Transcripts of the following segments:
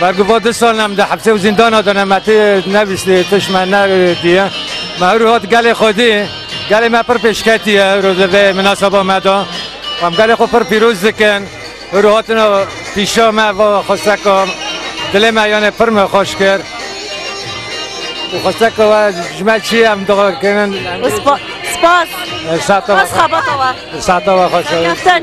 Bergova du sal ne min di hepsê û zîndana de ne me tê nebîstî tişt me nediye. Me hewrû hat gelê xwedî, gelê me pir pêşketiye hewrû li vê minaseba me de. Em gelê xwe pir pîroz dikin. Hewrû hatine pîşa me va xwesteka dilê me yanê pir me xweş kir. Û xwesteka we ji me çi ye em dixwe kirin. Spas. Spas. Sata we xweş. Sata we xweş.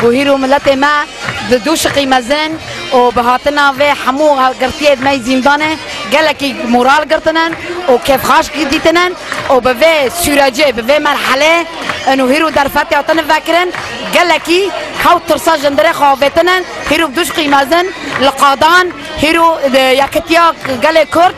Guhîr û miletê me di du şiqî mezin û bi hatina vê hemû girtiyê di ney zîndanê gelekî moral girtine û kêfxaş dîtine û bi vê sûrecê, bi vê merhelê in û hîr û derfetê hatine vekirin gelekî hewt tirsa ji ndirê xwe avêtine. Hîr û bi du şiqî mezin li qadan hîr û yekitiya gelê Kurd.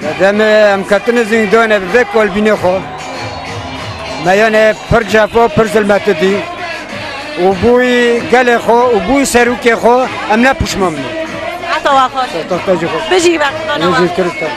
Di demê em ketine zîndanê bi vê kolbînê xwe me yanê pir cefa pir zilmeti dî û bûyî gelê xwe û bûyî serokê xwe em ne pişman bûn. Heta wa xweş. Heta jî xweş. Bijî Kurdistanê. Bijî Kurdistanê.